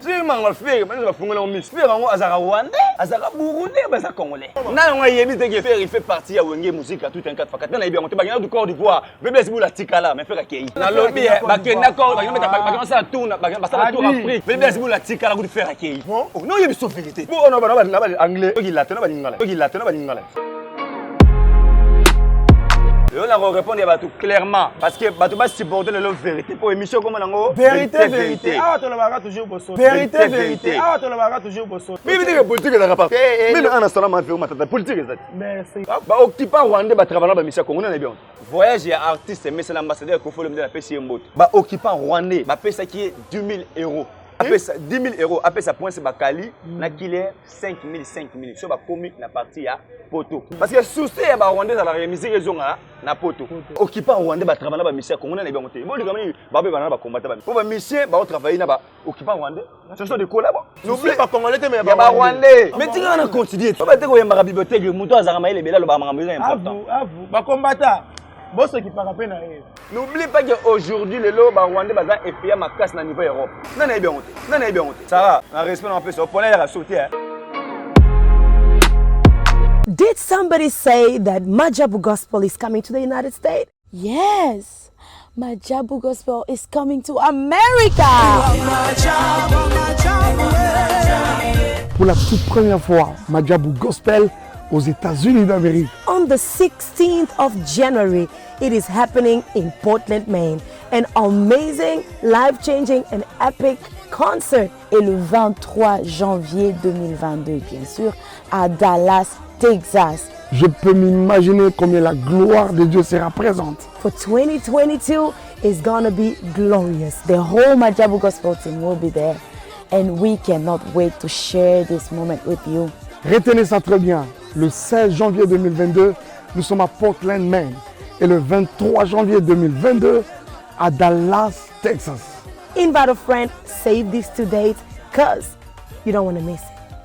soki manga fere bana bafungola ngo misu fere yango azalaka rwandais azalaka burundais baza congolais na yango ayebi te ke fere il fait partie ya wenge musika tout un quatre fakati na nayebi yango te bakenda du corps d'ivoire bebe esibu la tikala mais fere akei nalobi bakenda corps bakenda basala tour basala tour afrique bebe esibu la tikala kutu fere akei no oyebi so verité po ona bana ba anglais oki latin na balingala oki latin na balingala lelo na korépondre ya bato clairement parce que bato basupporte lelo vérité mpo émission ekoma nango vérité vérité awa tolobaka toujours boso vérité vérité awa tolobaka toujours boso mimi ndenge politique ezalaka pa mimi ana sala mafeo matata politique eza te merci baoccupa rwandais batravailleur bamisia kongo nana bien voyage ya artiste emesana ambassadeur ekofolo mde napesi ye mbote baoccupa rwandais bapesaki ye 10 000 euros apesa 10 000 euros apesa prince bakali na kile 5000 5000 so bakomi na parti ya poto parce que souci ya barwandais ezalaka misiki ezongaka na poto okipa rwandais batrava na bamisie ya kongo nana ebango te bolika mini babebana na bakombata bami mpo bamisie baotravaille na baokipa rwandais soso de kolabo ya barwandais mais tika na continue te bate koyembaka bibliothèque moto azalaka mayele ebele alobaka makambo eza important bakombata bosokipaka mpe na ye n'oublie pas que aujourd'hui lelo barwandais baza epeya makasi na niveau europe nani ayebi yango te nani ayebi yango te sara na respect na mapesa opona yaka so te Did somebody say that Majabu Gospel is coming to the United States? Yes. Majabu Gospel is coming to America. Pour la toute première fois, Majabu Gospel aux États-Unis d'Amérique. On the 16th of January, it is happening in Portland, Maine. An amazing, life-changing and epic concert. Et le 23 janvier 2022, bien sûr, à Dallas, Texas. Je peux m'imaginer combien la gloire de Dieu sera présente. For 2022 is gonna be glorious. The whole Majabu Gospel team will be there. And we cannot wait to share this moment with you. Retenez ça très bien. Le 16 janvier 2022, nous sommes à Portland, Maine. Et le 23 janvier 2022, à Dallas, Texas. Invite a friend, save this to date, cause you don't want to miss it.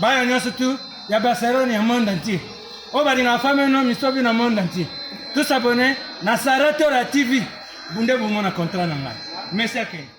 bana nyonso tu ya barcelone ya monde entier oyo balingaka fami no misobi na monde entier tous abonne na sara tora tv bunde bomona contrat na ngai merci akende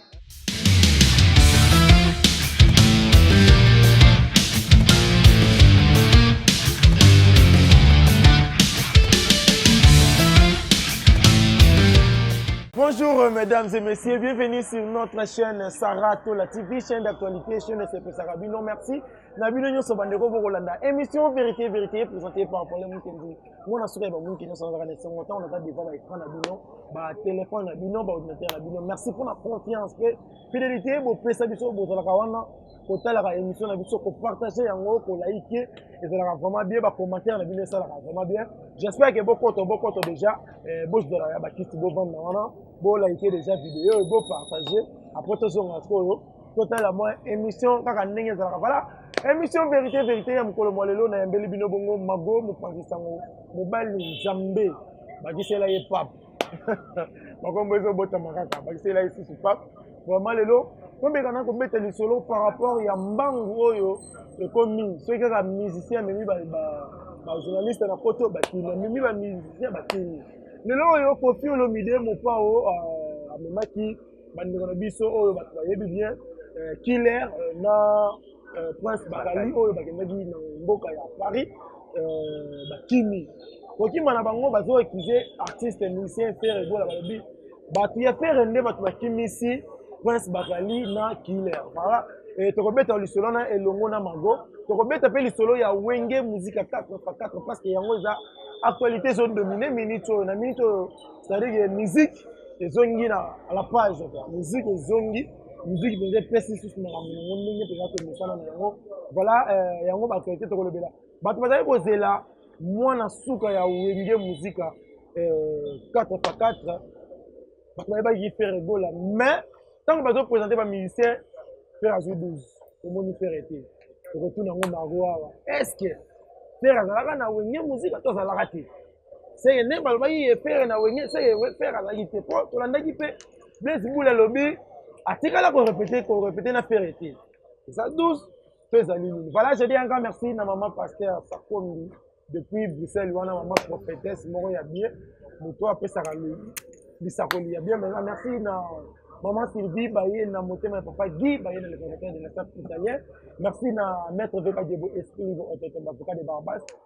Bonjour euh, mesdames et messieurs, bienvenue sur notre chaîne Sarah Tola TV, chaîne d'actualité, chaîne de ezaka bino merci na bino nyonso bandeko bokolanda émission vérité vérité présenté par pole mokenzi mwana suka ya bamonike nyonso nazalaka na esengo ntango naza devant ba écran na bino batelefone na bino baordinateur na bino merci mpo na confiance mpe fidélité bopesa biso bozalaka wana kotalaka émission na biso kopartage yango kolaike ezalaka vraiment bien bacommentaire na bino esalaka vraiment bien j'espère ke bokoto bokoto déjà eh, bozala ya bakiti bovanda wana bolaike déjà video oyo bopartage après tozonga sikoyo totala mwa émission kaka ndenge ezalaka vala émission vérité vérité ya mokolo mwa lelo nayambeli bino bongo mago mopanzi sango mobali nzambe bakisela ye pape makombo ezobotama kaka bakisela ye susu pape vraiment lelo tomeka na kobeta lisolo par rapport ya mbangu oyo ekomi soki kaka musicien amemi bajournaliste na poto bakimi amemi bamusicien bakimi lelo oyo kofi olomide mopao euh, amemaki bandeko na biso oyo bato bayebi bien euh, killer euh, na euh, prince bakali oyo bakendaki na mboka ya paris bakimi kokima na bango bazo ekize artiste musicien fere gola balobi bato ya fere nde bato bakimisi prince bakali na killer voilà tokobeta lisolo na elongo na mago tokobeta mpe lisolo ya wenge muzika 4 pa 4 parce que yango eza actualité ezodomine minute oyo na minute oyo C'est-à-dire que musique ezongi na à la page quoi. Musique ezongi, musique mpenza epesi lisusu makambo yango ndenge mpenza to mosala na yango. Voilà euh, yango ba qualité tokolobela. Bato bazali kozela mwana suka ya Wenge Musika euh, 4 par 4 bato bayebaki Ferre Ebola mais ntango bazo présenter ba musicien Ferre azwi 12 omoni Ferre te tokotuna yango Margot awa est-ce que Ferre azalaka na Wenge Musika to azalaka te seke nde balobaki ye fere na wenge seke fere azalaki te mpo tolandaki mpe blaise bule alobi atikala korepete korepete na fere te eza 12 to ezali nini voilà je dis encore merci na mama pasteur sakombi depuis bruxelles wana mama prophétesse moko ya bien moto apesaka lisakoli ya bien maintenant merci na Maman Sylvie Baye na motema ya papa Guy Baye na le fondateur de la staff italien. Merci na maître Veka Djebo Esprit au avocat de Barbas.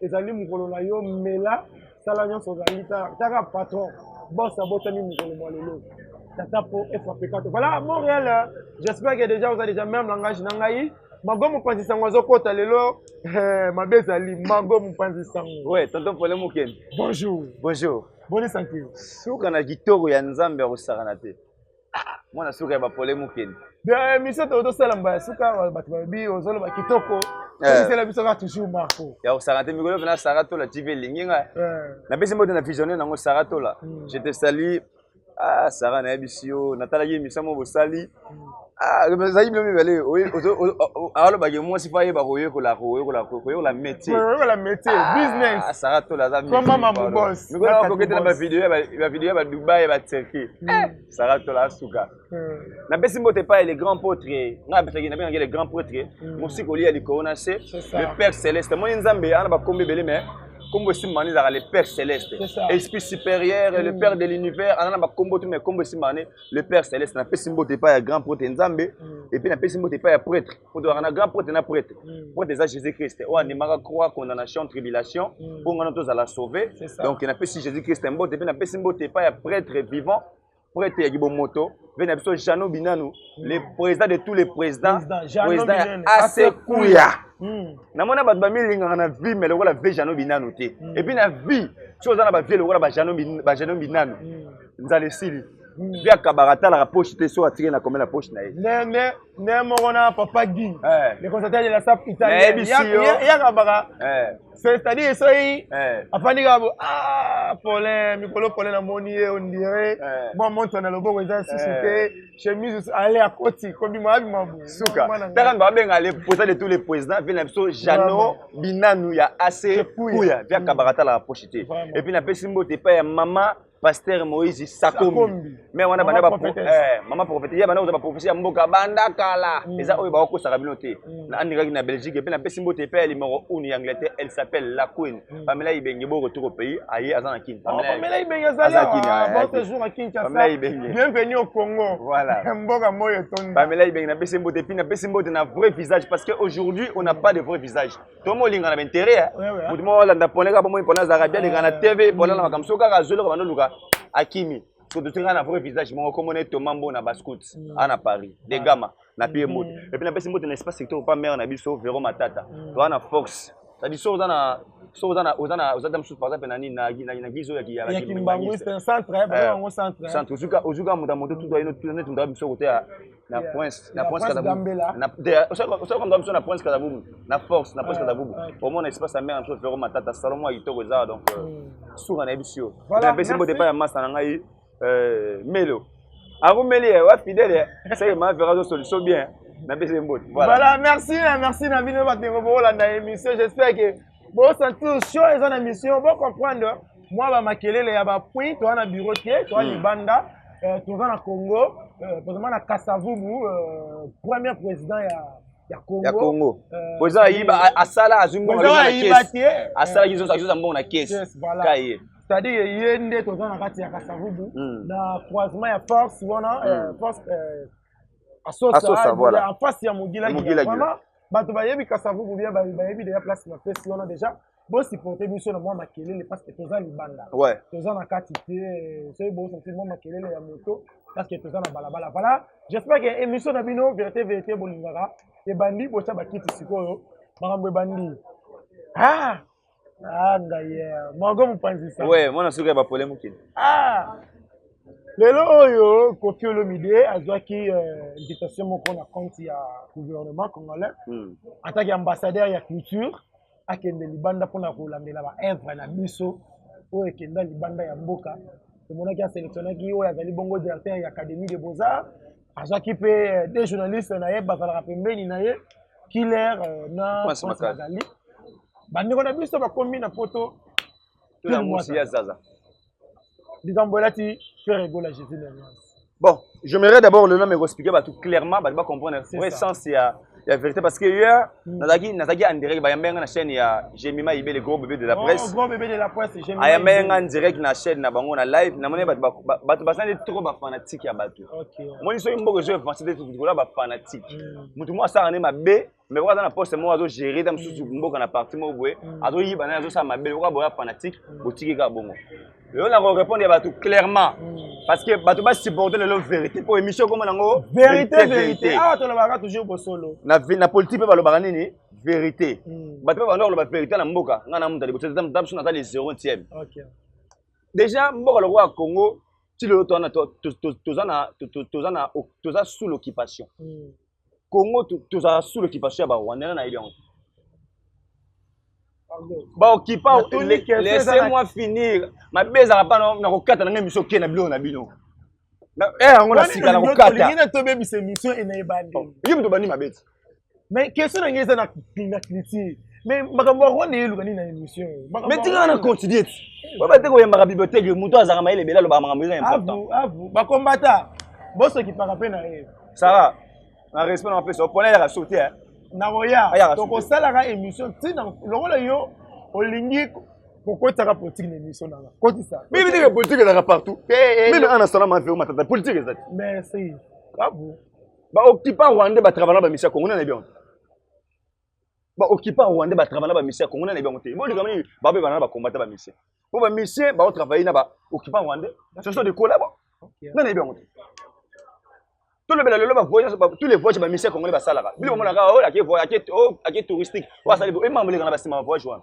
ezali mokolo na yo mela sala nyonso ozali taka patron bos abotami mokolo mwa lelo tata po efrape kato voilà montréal j'espère que déjà oza déjà même langage na ngai mago mopanzi sango azokɔta lelo eh, mabe ezali mago mopanzi sango we tonton pole mokende bonjour bonjour boni santé suka na kitoko ya nzambe akosakana te mwana suka ya bapole mokende emission to tosala mbala suka bato balobi ozoloba kitoko esela eh. biso kaka toujours marco ya kosaka te mikolo pena sara tola tv elingi nga eh. napesi mbote na visionne nango sara tola hmm. je te sali ah sara nayebisi yo natalaki emission mo bosali ezali bino mibale alobaki mwasi mpo ayeba koyekola koyekola métiersara tola azamikokete na bavideo ya badubai ya baturquie Eh, Sarah Tola Asuka. Hmm. Na besi mbote pas le grand potre. Nga betaki na benga le grand potre. Hmm. Mosi ko lia likolo na se. Le Père Céleste. Moi Nzambe ana ba kombe belé mais kombo esimba wana ezalaka le père céleste esprit supérieur le mm. père de l'univers ana na bakombo tu mais kombo esimba wana le père céleste napesi mbote epai ya grand prêtre nzambe mm. epuis napesi mbote epai ya prêtre kotolaka na grand prêtre na prêtre mm. prêtre eza jésus christ oyo andimaka croix condamnation tribulation mm. mpo ngana tozala sauve donc napesi jésus christ mbote mpe napesi mbote epai ya prêtre vivant prêtre ya kibomoto mpe na biso jeannot binanu mm. le président de tous les présidents président ya asekuya namona bato bamilingaka na vie mai lokola vie jeannot binanu te epuis na vie soki oza na bavie lokola bajeannot binanu nzala esili vie akabaka atalaka poche te soki atiki na komela poche na ye nde moko na papa gi eh. le constateur de la sap italieyaka baka eh. c'est-à-dire soki eh. afandi kaka bo ah, polin mikolo polin namoni ye ondire mwa montre na loboko eza susu te chemise ale akoti kobima abima bosuka taka ndo abenga le posa de tous les présidents vie na biso jano binanu ya ac kuya via kabaka atalaka poche te epuis napesi mbote epai ya mama pasteur moïse sakombi me wana banda eh, mama profete ye banda koza baprofesi ya mboka banda kala mm. eza oyo bakokosaka bino te mm. na andingaki na belgique mpe napesi mbote epai ya limoro une ya angleterre elle s'appelle la queen mm. pamela ibenge bo retour au pays aye aza na kin oh, pamela ibenge azaliapamela ibenge bienvenu au congo voilà mboka moyo etondi pamela ibenge napesi mbote mpe napesi mbote na vrai visage parce que aujourd'hui on n'a pas de vrai visage to molinga na baintere ya moto moko alanda pone kaka bomoi pone azalaka bia leka na tv pone na makambo soki kaka azwi loka bando luka akimi tototinga na vrai visage moko komona ye toma mbona bascout mm. ana paris de gama na pie mbote mm. epuis napesi mbote na espace secteur pa mare na biso vero matata mm. toa na fox cetadi so oza na so oza na oza na oza ta mosusu par exemple na nini na gise oyo ya kimbanguiste centre eh, eh, eh. ozwi kaka moto ya moto tutu ayino neti moto ya biso koteya na yeah. prince na prince kadabubu na te osa konga biso na prince kadabubu na force na prince kadabubu omona espace ya mère na biso vero matata salon mwa kitoko eza donc euh, mm. suka na yebisi yo napesi mbote epai ya masta na ngai euh, melo akomeli ye wa fidèle seke ma vero azo solution bien napesi ye mbote voilà merci merci na bino bato ndenge bokolanda émission j'espère que Bo sentir show eza na mission, bo comprendre mwa ba makelele ya ba puits toza na bureau te, toza hmm. libanda, euh, toza na Congo, euh, tozama na Kasavubu, euh, premier président ya ya Congo. Ya Congo. Euh, Boza ayiba asala azwi mbongo na caisse. Asala kizo kizo mbongo na caisse. Yes, voilà. Kaye. c'est-à-dire ye nde toza na kati ya kasavubu hmm. na croisement ya force wana hmm. euh, force euh, asosa en face ya mogilagila vraiment bato bayebi kasavubu bia bayebi deja place na pesi wana deja bosupporte biso na mwa makelele parce que toza libanda ouais. toza na kati te eh, soki bosenti mwa makelele ya moto parce que toza na balabala voilà j'espère que émission na bino vérité vérité bolingaka ebandi botya bakiti sikoyo makambo ebandi ah Ah, d'ailleurs. Margot Mupanzisa. Ouais, moi, je suis à Bapolé Moukine. Ah! lelo oyo kofi olomide azwaki euh, invitation moko na compte ya gouvernement congolais hmm. ataki ambassadeur ya culture akende libanda mpona kolandela baevre na biso oyo ekenda libanda ya mboka tomonaki aselectionnaki oyo azali bongo directeur ya académie de beaux-arts azwaki mpe euh, de journaliste na ye bazalaka pembeni na ye killer euh, na magali bandeko na biso bakomi na poto likambo elati frère egola jésus bon je merai d'abord le nom ekoexplike bato clairement bato bacomprendre vrai sens ya ya vérité parce que hier hmm. nazalaki nazalaki en direct bayambaki nga na chaîne ya Gemima Ibele gros bébé de la oh, presse gros bébé de la presse Gemima ayambaki nga en direct na chaîne na bango na live namoni bato bato basali trop ba fanatique ya bato omoni soki mboka ezo avance te tokola ba fanatique hmm. moto moko asala nde mabe mais oyo aza na poste moko azogere ta mosusu hmm. mboka na parti moko boye azoyiba naye azosala mabe okoka boya fanatique botiki kaka bongo lelo na ko répondre ya bato clairement hmm. parce que bato ba supporter lelo vérité mpo émission ekoma nango vérité vérité awa ah, tolobaka toujours bosolo na, na politique mpe balobaka nini vérité hmm. bato mpe banda koloba vérité na mboka ngai na muta liboso ta biso naza le zero tième déjà mboka lokola congo ti lelo toza na toza sous l'occupation hmm. Congo tozala sous l'occupation ya ba Rwandais na yebi yango. Ba occupa laissez-moi finir. Mabe ezala pa na kokata na ngai miso ke na biloko na bino. Eh yango na sika na kokata. Ngai na tobe bise mission ena ebandi. Oh, Yim to bandi mabeti. Mais question na ngai eza na na critique. Mais makambo ya Rwanda eluka nini na émission. Mais tika na continuer. Ba ba te ko yamba bibliothèque muto azaka mayele bela loba makambo eza important. Abu abu ba combattant. Boso kipaka pe na yeye. sara na respect na pesa opona yaka soki te nakoya tokosalaka émission ntina lokola yo olingi kokotaka politique na émission nanga kotisa mimi ndenge politique ezalaka partout mimi ana sala maveo matata politique eza te merci babu baoccupa rwandais batravalant bamisia kongo nanayebi yango ba occupants rwandais ba travailler na ba missions congolais na bango te bo likambo nini ba be bana ba combattre ba missions po ba missions ba travailler na ba occupants rwandais ce sont des collabos na na bango te tout le bela lelo ba voyage ba tous les voyages ba missions congolais ba salaka bino mona ka oh la ke voyage ke oh ke touristique wa sali bo e mambo le kana ba sima voyage wana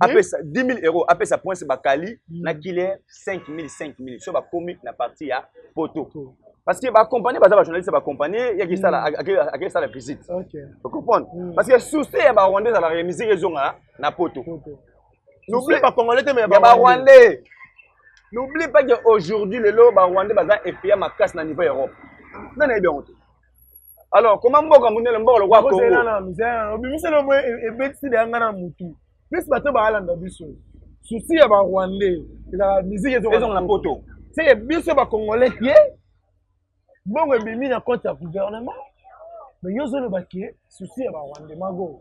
apesa 10000 euros apesa poince bakali mm. na killer 5000 5000 so bakomi na parti ya poto parce que bacompagnie baza bajournaliste ya bacompagnie yaki sala mm. akei sala visite ocomprendre mm. parce que souci ya barwandais ezalaka ya misiki ezonga na poto n'oublie pas congolais te mais ya barwandais n'oublie pas que aujourd'hui lelo barwandais baza effraya makasi na niveau europe nani ayebi yango te alors koma mboka monene mboka lokola kongoobimisa lomo ebetisi deya ngai na motu plus bato baalanda biso susi ya barwandais ezalaka miziki ezonga na poto seke biso bacongolais te mbongo ebimi na compte ya gouvernement mais yo ozoloba ke susi ya barwandais mago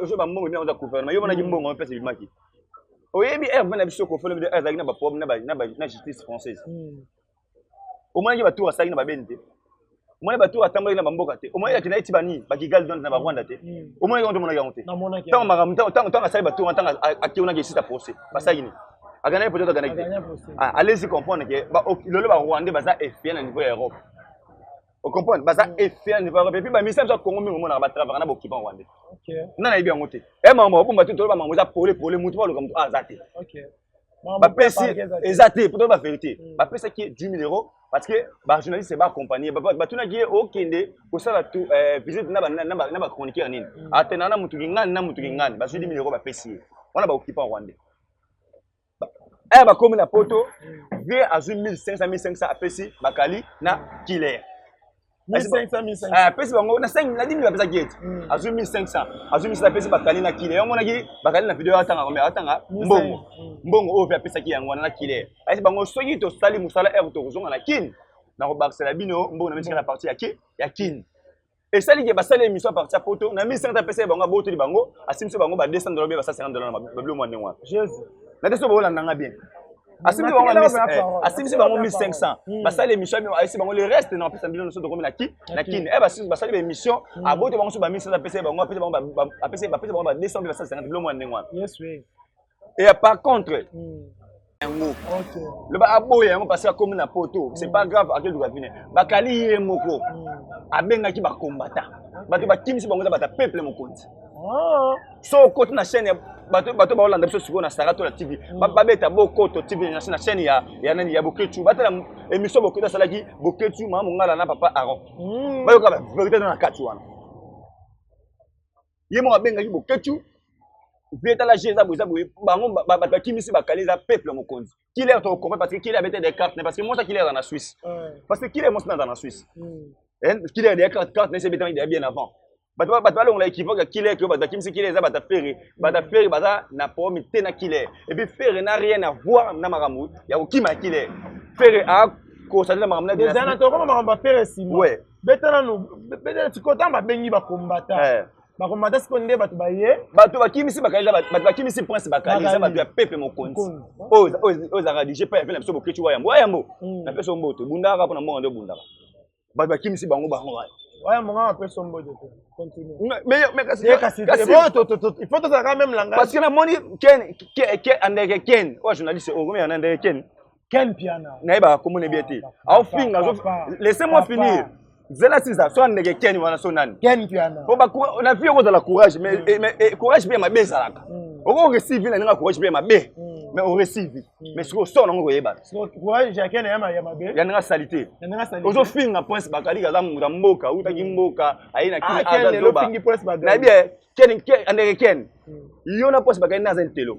yoso bambongo bino oza gouvernement yo monaki mbongo mpesa ebimaki oyebi rv na biso kofolo bido azalaki na baproblème na justice française omonaki batour asalaki na babeni te omoni batour atambolaki na bamboka te omoni yaki naye ti banini bakigali don na barwanda te omonaki yango te omonaki yango te ntango makambo ntango asali batour wana ntango akeunaki esita procès basalaki nini aganaki peut-être aganaki te alesi comprendre ke lelo barwandais baza espia na niveau ya europe ocomprendre baza mm. efia nde bakope mpe bamisa biso ya congo mingi omonaka batravaka na bokipan rwande nga nayebi yango te e mama babomba te toloba mama eza pole pole motu baloka motu aza te bapesi eza te po toloba verité mm. bapesaki ye 10 000 euros parce que bajournaliste baakompagne batunaki ye okende kosala euh, visite na bachroniqueur nini mm. atena na motu kingani na motu kingani bazwi 10 000 euros bapesi ye wana baokipan rwande aya bakomi na poto vie azwi 1500 1500 apesi bakali na killer apesi bango na 5 na 10 apesaki ete hmm. azwi 1500 azwi misala apesi bakali na killer omonaki bakali na video atanga kombe atanga mbongo hmm. mbongo oyo mpe apesaki yango wana na killer ayesi bango soki tosali mosala ere tokozonga na kin nakobakisela bino mbongo na mitikala parti ya kin esali ke basali émission parti ya poto na 1500 apesa ye bango abotoli bango asimisi bango ba 200 dollars ba 150 dollars na babilo mwa ndenge wana jesus na teso bokolanda nga bien asimisi bango eh, asimisi bango 1500 hmm. basali émission bino ayesi bango le reste na apesa bino nyonso tokomi na ki na kin e eh, basali ba émission hmm. aboti bango so ba 1500 apesa ye bango apesa bango apesa bango ba 200 mpe ba 150 bilo mwa ndenge wana Et euh, par contre, hmm. yango loba aboya yango parce akomi na poto c'est pas grave akeluka vine bakali ye moko hmm. abengaki bakombata bato bakimisi bango eza bata peuple mokonzi ah. so okoti na chaîne bato baolanda biso sikoyo na sara to na tv hmm. babeta bokoto tv na chaîne ya ya nani ya boketu batala émission boketu asalaki boketu mama mongala na papa aron bayoka ba verité na kati wana ye moko abengaki boketshu vie tala je eza boza boye bango bato bakimisi bakale eza peuple mokonzi kile to comprendre parce que kile abete des cartes parce que mosa kile aza na suisse parce que kile mosa aza na suisse kile ya des cartes carte nese ebetami deya bien avant bato bato balongola ekivoke ya kile ke bato bakimisi kile eza bata fere bata fere baza na problème te na kile et puis fere na rien à voir na makambo ya kokima ya kile fere a kosatela makambo na eza na tokoma makambo ya fere sima beta nanu beta sikoyo ntango babengi bakombata eh. bakombata sikoyo nde bato baye bato bakimisi bakali bato bakimisi prince bakali eza bato ya pepe mokonzi oyo ezalaka dige pa yape na biso bokeci wa yambo wa yambo hmm. na peso mboto ebundaka kaka mpo na mbongo nde obundaka bato bakimisi bango bango wana oya monga bapesa mboto te ifo tozalaka meme langage parce que namoni ken andeke ken oyo journaliste oyo komeyana ndeke ken Ken Piana. Na yeba kombo ne bien te. Ah, Au finga zo laissez moi finir. Zela siza so ndeke Ken wana so nani? Ken Piana. Ko ba na vie ko za la courage mais mm. mais eh, courage bien ma bezalaka. Mm. Oko receive na nga courage bien ma be. Mm. Mais on receive. Mais siko so na ngo yeba. Siko courage ya Ken ya ma ya ma be. Ya nga salite. Ya nga salite. Ozo finga prince bakali kaza muta mboka, uta ki mboka, ayina ki ah, aza loba. Na bien Ken Ken ndeke Ken. Yo na prince bakali na za ntelo.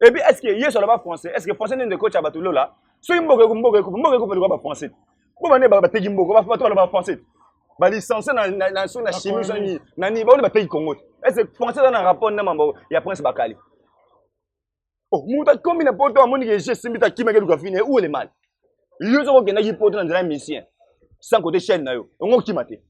Et puis, est-ce que Yesu alaba français? Est-ce que français n'est coach à Batulola? So imbogo ko mbogo ko mbogo ko pelu ba français. Bo bane ba teki mbogo ba fatu alaba français. Ba licencié na na na sur na chimie sur ni na ni ba ba teki Congo. Est-ce que français dans rapport na mambo ya prince Bakali? Oh, muta kombi na poto amoni ke je simbi ta kimeke luka fine où est le mal? Yesu ko kenda ki poto na nzela mission. Sans côté chaîne na yo. Ongo kimate.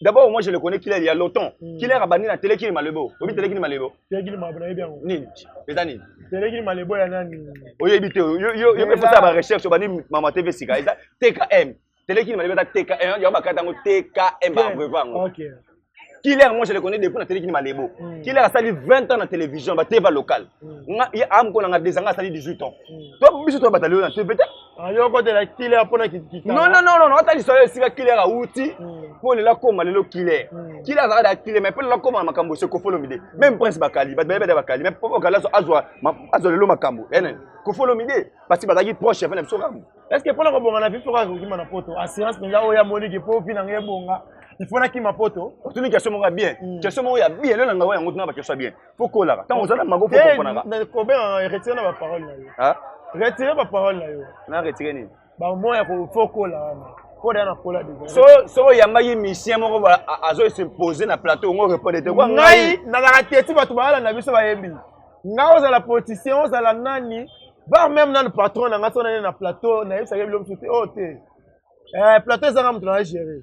D'abord, moi, je le connais qu'il est il y a longtemps. Mm. Qu'il est rabani na télé qui est malebo. Obi télé qui est malebo. Télé qui est malebo, bien. Ni, les années. Télé qui est malebo, ya nani. Oye bité, yo yo yo peut faire ba recherche bani maman TV sika. Eza TKM. Télé qui est malebo ta TKM, yo ba katango TKM ba brevango. OK. Killer, moi je le connais depuis na télé qui est malebo. Mm. Killer a sali 20 ans na télévision, ba TV locale. Mm. Nga ya am ko na nga des ans, a sali 18 ans. Mm. Toi biso toi batalio na TV ayokotela killer mpo na kitikala non non non non ata lisolo esika killer awuti mpo lela koma lelo killer killer azalaka da killer mais mpo lela koma na makambo ose kofolomi de même prince bakali bato bayebada bakali mais mpo bakali azwa azwa lelo makambo ene kofolomi de parce que bazalaki proche ya fana biso kambo est ce que mpo na kobonga na viso kaka kokima na poto assurance mpenza oyo amoniki mpo vi na ngai ebonga il faut nakima poto otuni question moko ya bien question moko ya bien lelo na ngai yango tuna bakestion ya bien pokolaka ntango oza na mago pokoponaka retire na baparole na yo retire baparole na yo na retire nini bamo ya kofokola wana koda na kola so so oyamba ye misien moko azo se poser na plateau ngo répondre te kwa ngai nazalaka teti bato balala na biso bayembi ngai ozala politicien ozala nani bar meme nanu patron na ngai so nani na plateau nayebisaka bilo mosusu te oyo oh, te eh, plateau ezanga moto na géré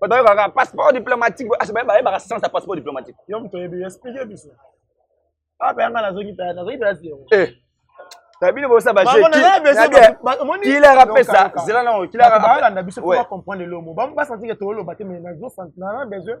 bato bayokaka passeport diplomatique bayebaka sens ya passeport diplomatique yo moto oyebi explike biso apa ah, yanga nazongi tala nazongi tala si yango eh. na bino bosa bajekilara pesa zela nango kilara biso comprendre elomo basanti ke toloba te mais nazo na besoin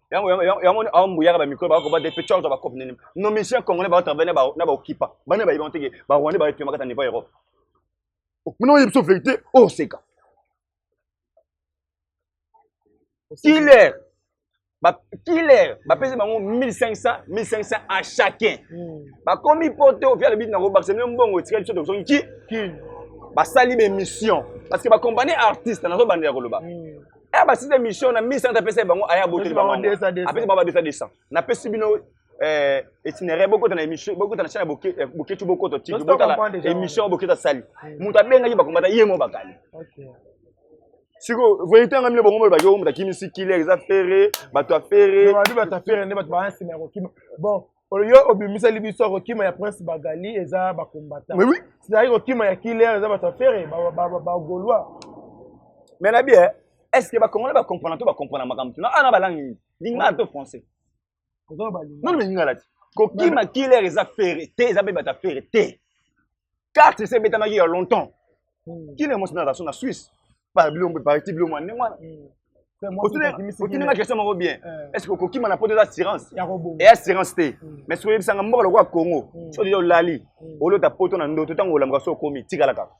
yango yango awa mbuyaka bamikolo baka koba depe cor ba cope nini no musicien congolais bao travaille na baokipa bana bayebi yango teke barwandais baepemaka ta niveau europe mino oyebi so verité oseka killer killer bapesi bango 1500 1500 à chacun hmm. bakomi poto via lobi nakobakisa mino mbongo etika biso tokosongi ki basali baémission parce que bacompagnie artiste nazobandela koloba hmm. eh ba site mission na 1100 apesa bango aya boteli bango apesa ba 200 200 na pesi bino eh itinéraire bokota na émission bokota na chaîne boke eh, boketu bokoto tiki bokala émission boketa sali mutu abengaki bakombata ye mo bakali okay siko verité yanga mino bongo baki oyo moto akimisi killer eza fere bato ya fere bato ya fere nde bato baa nsima ya kokima bon oyo obimiseli biso kokima ya prince bagali eza bakombata oui, oui. ezali kokima ya kiler eza bato ya fere bagaulois mais na bie est ce que bacongolais bacomprana to bacomprana makambo tuna ana balangi nini lingala to français nano balingala ti kokima kiler eza fere te eza mpe bato ya fere te carte esi ebetamaki ya longtemps hmm. kina emosi naza so na suisse bilombo parti bilombo ndenge wana otinanga hmm. question moko bien eh. est ce que okokima na poto eza assurance e assurance te hmm. mais soki oyebisanga mboka lokola congo soki deja olali olota poto na ndoto ntango olamuka so okomi tikala kaka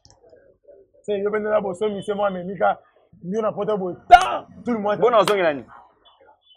yo mpenza na bosomi se mwa memika yo na poto boye ta tout le monde bona ozongela nini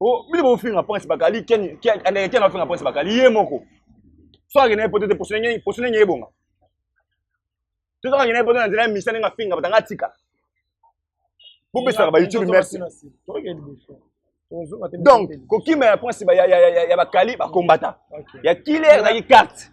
Oh, bino bofinga prince bakali ken ken andeke ken afinga prince bakali ye moko so akende poto te poso ndenge poso ndenge ebonga to soki akende poto na nzela ya misa ndenge afinga batanga atika bopesaka ba youtube merci donc kokima ya prince ya bakali bakombata ya killer ezalaki carte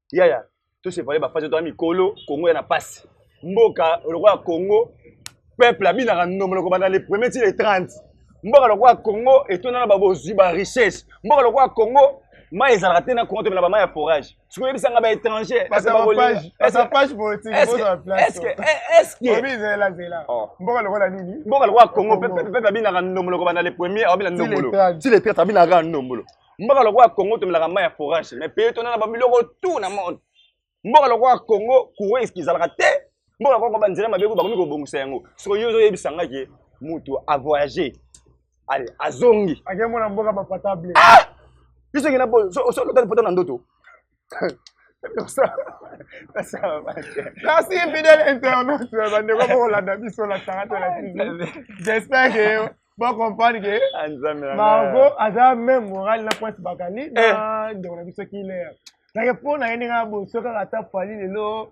yaya tosepale bafasi tona mikolo kongo ya na mpasi mboka lokola kongo peuple abinaka ndomo loko banda le premier ti le 30 mboka lokola kongo etonda na babozwi ba richesse mboka lokola kongo mai ezalaka te na kongo tomela bamai ya forage soki oyebisa nga baétranger mboka lokola nini mboka lokola kongo peuple abinaka ndombolo kobanda le premier abina ndombolo ti le 30 abinaka ndombolo mboka lokola congo tomelaka mai ya forage mais peye tona na babiloko tout na monde mboka lokola congo courant eski ezalaka te mboka lokola banzela mabe ko bakomi kobongisa yango soko yo ozoyebisa ngai ke motu avoyage ale azongi akemona mboka bapatable ah! biso kina solota poto na ndoto Merci fidèle internaute bandeko bokolanda biso na tanga te na tv j'espère que bocomprendre ke margo aza même moral na prince bakali na ndeko na biso kiler nake mpo na ye ndenge aboso kaka ata fali lelo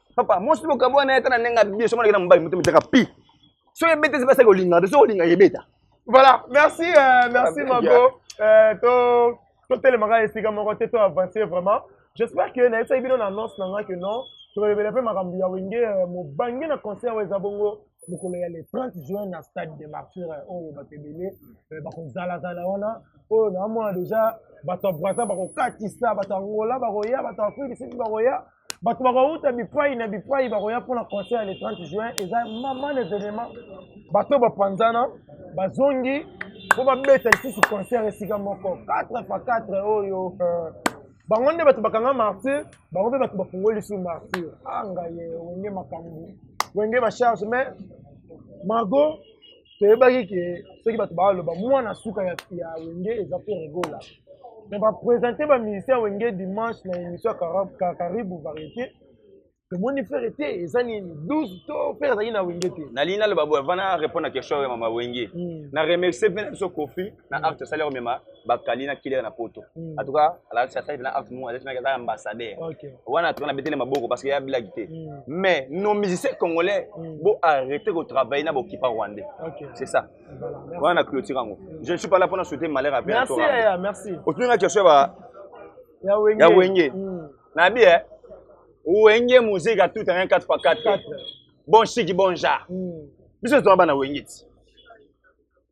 papa mwasi bokabwa na ye ata na ndenge abie soki aleki na mobali moto mitaka pi soki ebeta esi basaki olingaka te soki olinga ebeta voilà merci euh, merci ah, mago euh, to totelemaka esika moko te to avancer vraiment j'espère que nayebisaki bino na annonce na nga que non tolobela mpe makambo ya wenge euh, mobange na concert oyo eza bongo mokolo ya le 30 juin na stade de martyr euh, oyo bato ebele euh, bakozalazala wana oyo naamona deja bato ya braza bakokatisa bato ya ngola bakoya bato ya afrique du sud bakoya bato bakouta bipai na bipai bakoya mpona concert le 30 juin eza maman evenement bato oyo bapanzana bazongi mpo babeta lisusu concert esika moko 4 pa 4 oyo euh, bango nde bato bakanga martyr bango mpe bato bafungoli lisusu martyr angaye ah, wenge makambo wenge bacharge mais margot toyebaki ke soki bato baaloba mwana suka ya, ya wenge eza mpe regola me bapresente bamusicien ya wenge dimanche na émission ya karibu variété tomoni fere te eza nini 12 to fere azalaki na wenge te nalingi naloba boye vana répondre na question ya mama wenge hmm. na remercie mpe na biso kofi na mm. acte asali komema bakali na kilere na poto mm. en tout cas alakisi asali mpe na acte moko azalaki aza ambassadeur wana atoka na betele maboko parce que ya bilaki te mm. mais nos musiciens congolais bo arrêter kotravailler na bokipa rwandais c'est ça wana na clôture yango je ne suis pas là mpona souhaiter malheur ape otuni nga question ya wenge nabi e wenge muzika tout un 4 par 4 bon chiki bon genre biso ezonga bana wenge ti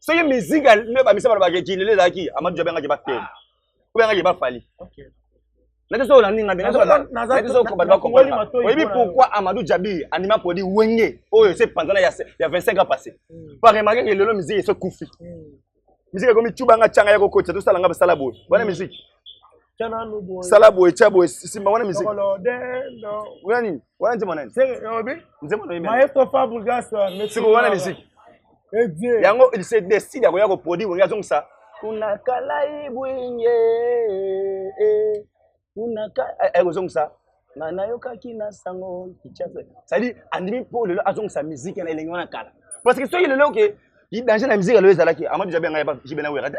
soki musique nde bamisa bana bakekinele ezalaki amadu jabe ngaki batele obe ngaki bafali nati soko naninga mpe nati soko bato bakomprana oyebi pourquoi amadou jabi andima produit wenge oyo se panzana ya 25 ans passé hmm. par remarke ke lelo musique ese kufi hmm. musique ekomi cubanga canga ya kokotisa tosala nga basala boye wana hmm. musique sala boye tya boye simba wana miziki wana nini wana nzembo nani nzembo siko wana miziki yango il se décide ya koya koproduit wenge azongisa kuna kalai bwinge eh, eh. kuna ekozongisa eh, nga nayokaki na sango kichasa cestadire andimi mpo lelo azongisa miziki na elenge wana kala parce que soki lelo oke danger na miziki lelo ezalaki amadi jabi ya ngai jibe na wera te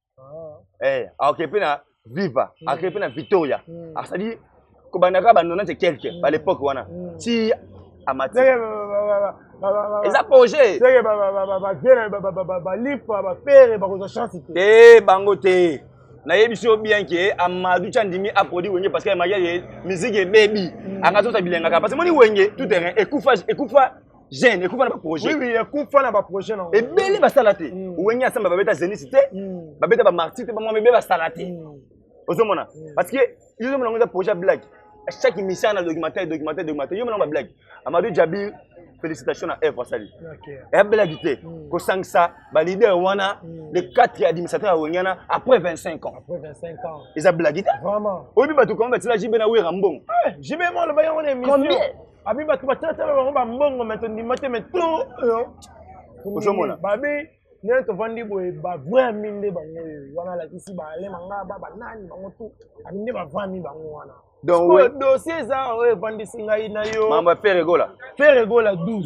ah. eh, akokende mpe na viva mm. akokende mpe na victoria mm. asali kobandaka banonante quelque ba mm. l'époque wana ti amati eza projet balipa bapere bakozwa chance te eh, bango te nayebisi yo bien ke amadu ti andimi aprodi wenge parce que maria ye miziki ebebi mm. anga azosa bilengaka parce que moni wenge tout terrain ekufa ekufa jeune ekufa na ba projet oui oui ekufa na ba projet na ebele basala te mm. wenge asamba babeta zenith te mm. babeta ba martyr te bamwa mebe basala te mm. ozomona parce que yo ozomona ngo eza projet blague chaque émission na documentaire documentaire documentaire yo mona ba blague amadou jabir félicitation na œuvre asali eya blague te kosangisa baleader wana le 4 ya administrateur ya wenge wana après 25 ans eza blague te oyebi bato koma batila jibe na wera mbongo eh, jibe moloba yango na émission abi bato batalatala bango bambongo me tondima te me to oyo ozomona babi ndenge tovandi boye bavrai ami nde bango oyo wana alakisi baale mangaba banani bango tu abi nde bavrai ami bango wana donc dossier eza oyo evandisi ngai na yo mambo ya ferre gola ferre gola 12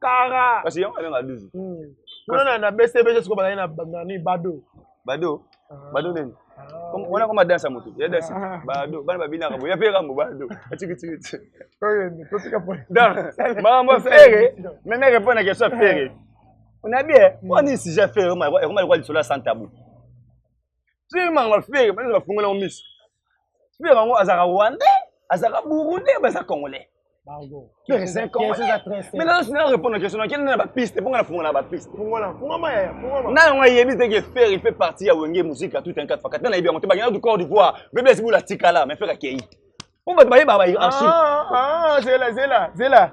kara kasi yango abenga duzu kuna na na bcb sikoyo bazali na nani bado bado ah. bado nini ah, wana koma danse ya motu ya danse ah. bado bana babinaka boya mpe kambo bado atikitiki makambo fere meme répondre na question fere onabi e wani sija fere ekoma lokola lisolo ya santabu soki manga fere bana bafungola yango miso fere yango azalaka rwandais azalaka burundais baza congolais fere c'est un congolais mais nana sina répondre na question nakende na bapiste mpo nga nafungola bapiste na yango ayebi te ke fere il fait partie ya wenge musique ya tout un quatre fakati na nayebi yango te bakenda du corps d'ivoire bebe esibula tikala mais fere akei mpo bato bayebaka baarchive zela zela zela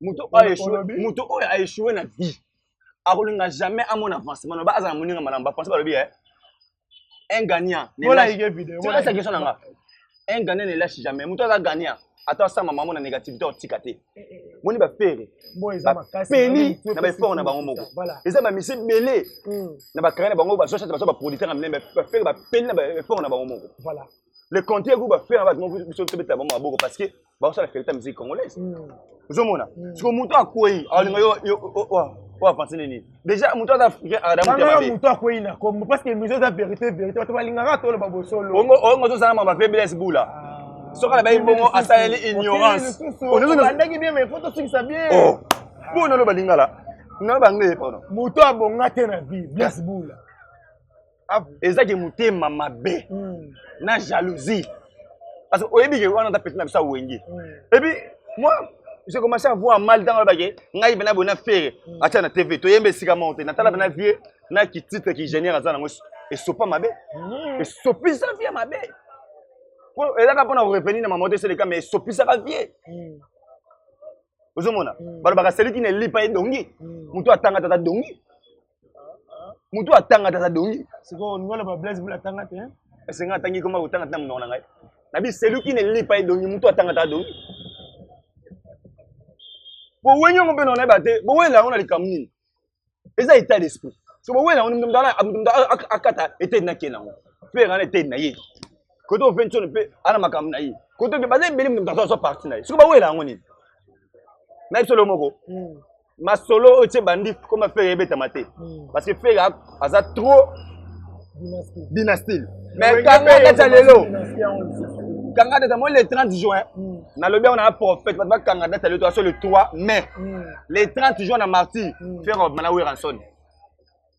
moto oyo echouer moto oyo a echouer na vie akolinga jamais amona avancement na ba azala moninga malamu ba français balobi eh un gagnant ne lâche tika sa question na nga un gagnant ne lâche jamais moto aza gagnant ata asamba mamo na négativité otika te eh, eh, eh. moni bafere bapeli na baeffort na bango moko eza bamisi ebele hmm. na bakare na bango bazochate baza baproducteur ya minene bafere bapeli na baeffort na bango moko le contraire kuba faire bato moko biso tobetela bango maboko parce que bakosala ferita musique congolaise hmm. ozomona hmm. siko motu akwei alinga yo oyo apanse nini déjà motu aza africain adamutema motu akwei na kombo parce que mise eza vérité vérité bato balingaka toloba bosolo oyo ngo tozala mama pe blaise bula ah. soki alabayi bongo asaleli ignorance obandaki bien mais fo tosukisa bien oh. mpo naloba lingala naloba anglais pardon moto abonga te na vie blaise bula Ah, eza ke motema mabe hmm. na jalousie parce que oyebi ke wana ta petit na biso ya wenge hmm. epuis moi j'ai commencé à voir mal ntango alobake ngai pena boye na fere hmm. atia na tv toyemba esika moko te natala pena vie na kititre kigeniere aza nango esopa mabe esopisa vie mabe po ezaka mpona korevenir na mama te seleka mais esopisaka vie ozomona balobaka seliki na elipa edongi moto atanga tata dongi mutu atanga te aza dongi sikoyo olingi oloba blaise bula atanga te esenga atangi koma kotanga te na monoko na ngai na bi celui qui ne lit pas edongi mutu atanga te adongi bowengi yango mpe naonayeba te bowela yango na likambo nini eza état d'esprit so bowela yango mutu mutu akata eteni na ke nango mpe nga na eteni na ye kote ofeni sono mpe ana makambo na ye kote oke baza ebele mutu mutu azwa parti na ye soki bawela yango nini na ye solo moko hmm. masolo oyo tse bandi koma fere ebetama te hmm. parce que fere aza trop dynastie mais kanga data lelo kanga data moi le 30 juin hmm. nalobi yango na prophète bato bakanga data lelo toaso le 3 mai hmm. le 30 juin na martyr fere obima na weranson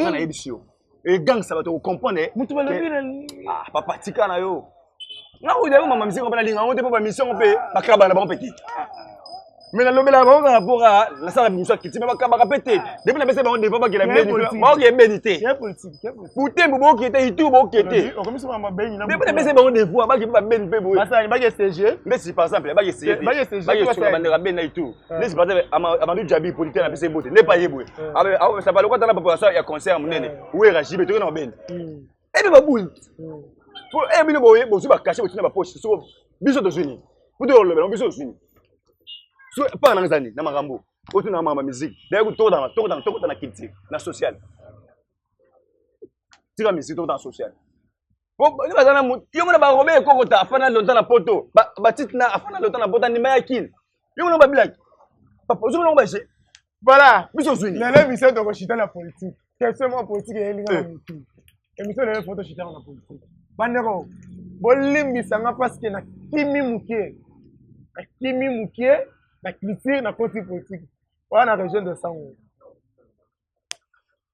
nga nayebisi yo egangisa bato okomprendre moto balobi ah, papa tika na yo nga oyo yango mama misiko mpe nalinga yango te mpo bamisio yango mpe bakala bana na bango mpe te mais nalobelaka bango kaka mpo kaka nasala bimisio ya kiti me bakabaka mpe te depuis napesa bango defa bakela baoki ebeni te butembo boki te itu boki te depuis napesa bango defa baki mpe babeni mpe boye nde si par exemple bakesebakesunga bandeko abeni na itu Eh. nde sipata amadu jabi polite na pesa ebote nde pa ye boye asapala okota na papa ya concert monene eh. wera jibe toke na mabende hmm. ebe babuli hmm. po eye eh, bino boye bozwi bakashe botina bapoche soko biso tozwi nini po toyolobela biso tozwi nini so mpaka nanga ezali na makambo otuna na makambo ya miziki daye kutokotana tokotana tokota na culture na sociale tika miziki tokota na sociale Boni baza na mutu yo mona barobe ekokota afana lontan na poto batite na afana lontan na poto andima ya kini yo mona babilaki papa ozo mona baje voilà biso zwini lelo emission tokoshita na politique question moko politique eyelinga na motu emission lelo foto shitaka na politique bandeko bolimbisa nga parceke na kimi moke na kimi moke na culture na koti politique wana na region de sango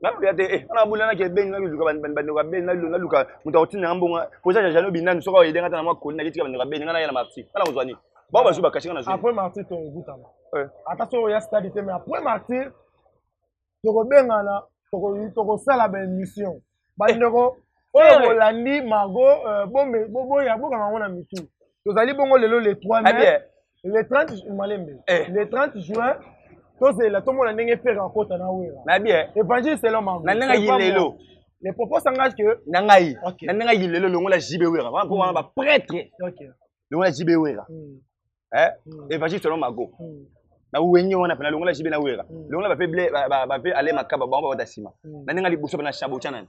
nakoya te eh, wana abula naki ebeni naluka bandeko ya beni naluka moto akotinda nga mbongo koza jajano binani soki ayedenga ata na mwa koli naketika bandeko ya beni nga naya na marti nga nakozwa nini bao bazwi bakasi nga nazwi après marti tokokutana eh. ata soki oya stade te mais après marti tokobengana tokosala baémission bandeko eh. oyo bolandi mago euh, boya bokanga yango na mitu tozali bongo lelo le 3 mai le 30 malembe eh. le 30 juin tozela tomona ndenge pere akota na wera na bien évangile selon mango na ndenge ye lelo le propose anga que na ngai na ndenge ye lelo longola JB wera wana mpo wana ba prêtre longola JB wera hmm. eh hmm. évangile selon mago hmm. na wenge wana pena longola JB na wera longola ba pe ble ba pe ale makaba bango ba ta sima na ndenge liboso na shabocha nani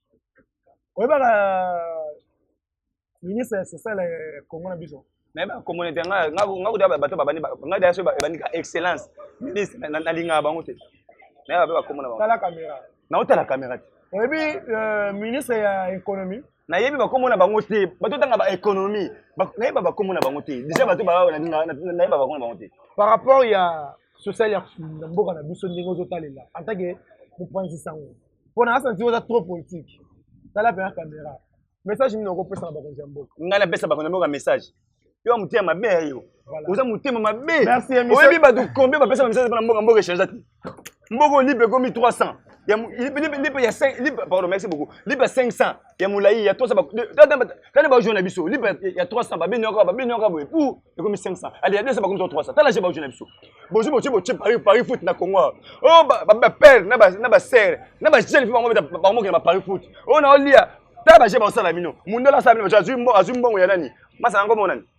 oyebaka ministre ya social ya congo na biso nayebaka communauté nga kuta bato babandi nga daya so ebandika excellence ministre nalingaka bango te nayeba mpe bakomona bango tala kamera naotala kamera te oyebi euh, ministre ya économie nayebi bakombo na bango te bato otanga ba économie nayeba bakombo na bango te déjà bato nayeba bakombo na bango te par rapport ya social ya mboka na biso ndenge ozotalela en tant que mopanzi sango mpo na asanti oza trop politique tala mpenza kamera message nini okopesa na bakonzi ya mboka ngai napesa bakonzi ya mboka message yo ya motema mabe ya yo oza motema mabe oyebi bato combien bapesa ba message mpona mboka mboka echange te mboka olipe ekomi 300 lipe ya 5 pardon merci beaucoup lipe ya 500 ya molai ya 300 baojo na biso libre ya 300 babeni yaka babeni yaka boye pour ekomi 500 ale ya 200 bakomi 300 tala je baojo na biso bozo botie botie paris paris foot na congo o oh, bapere na basere na bajeune fi bango bamokela ba paris foot oyo oh, naolia tala baje baosala bino mundele asala bino bato azwi mbongo ya nani masala yango monani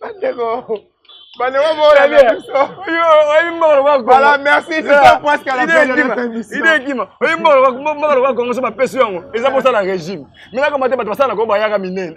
bandeko bandeko boyana biso oyimbakalobala merci idekima oyimbakalobala kongo so bapesi yango eza kosala régime melaka mate bato basalaka oyo bayaka minene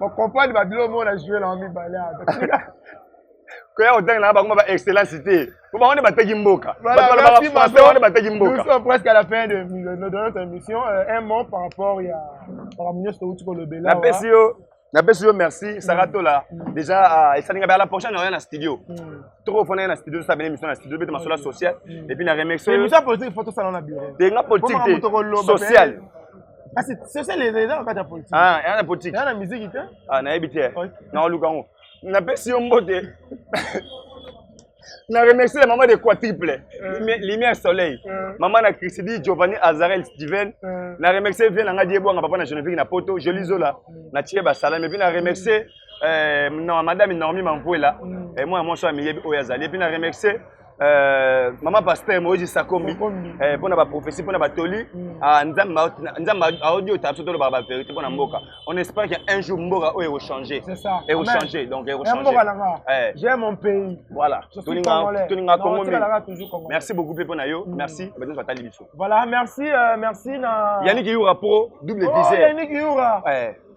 Ba comprendre ba bilo mona jouer na mibale ata. koya kotanga na bango ba excellence te po bango nde bateki mboka français wana bateki mboka presque à la fin de notre émission euh, un mot par rapport ya makambo nyonso touti kolobela napesi yo napesi yo merci mm. sara tola mm. déjà euh, esalinga bala prochaine oya na studio mm. toko fona na studio tosala bene émission na studio bete masolo ya social et puis na remercie yo émission politique faut tosala na bureau te nga politique te social kasi sesele eza na kati ya politike ah, eza na politike eza na miziki te ah, nayebi te nakoluka yango napesi yo mbote na remercie la maman de quadruple euh. lumière soleil euh. maman na christidi giovanni azarel steven euh. na remercie vie na nga die bwanga papa na genevique na poto jolie zola na tie basalami epuis na remercie madame normi mampuela mm. mwana mwasi oyo amiyebi oyo azali epuis na remercie Euh, mama pasteur moïse sakombi euh, mpo na baprophétie mpo na batoli mm. ah, nzambe aodi ota biso tolobaka baverité mpo na mboka mm. on espère que un jour mboka oyo ekochange ekochange donc ekochangeai mon pays voilà tolinga kongo merci beaucoup mpe mpo na yo mm. merci bato nyonso batali biso voilà merci euh, merci na yannick yura pro double viseur oh, yannick yura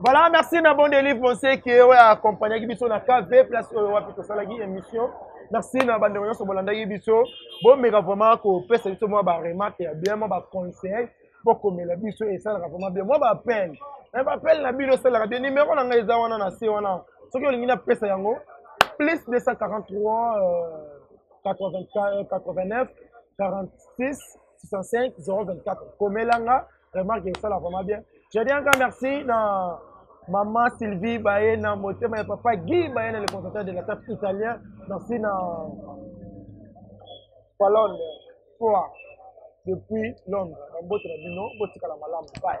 Voilà, merci na bon délivre Monseki oyo accompagnaki biso na KV place oyo wapi tosalaki émission. Merci na bandeko nyonso bolandaki biso. Bomeka vraiment kopesa biso mwa ba remarque ya bien, mwa ba conseil mpo komela biso esalaka vraiment bien. Mwa ba appel. Na ba appel na bino esalaka bien. Numéro na ngai eza wana na se wana. Soki olingi na pesa yango plus 243 euh, 84, 89 46 65 024 komela nga remarque esala vraiment bien je dis encore merci na maman sylvie baye na motema ya papa guy baye na le conservateur de la tape italien merci na palone fois depuis londres na mbote na bino botikala malamu bye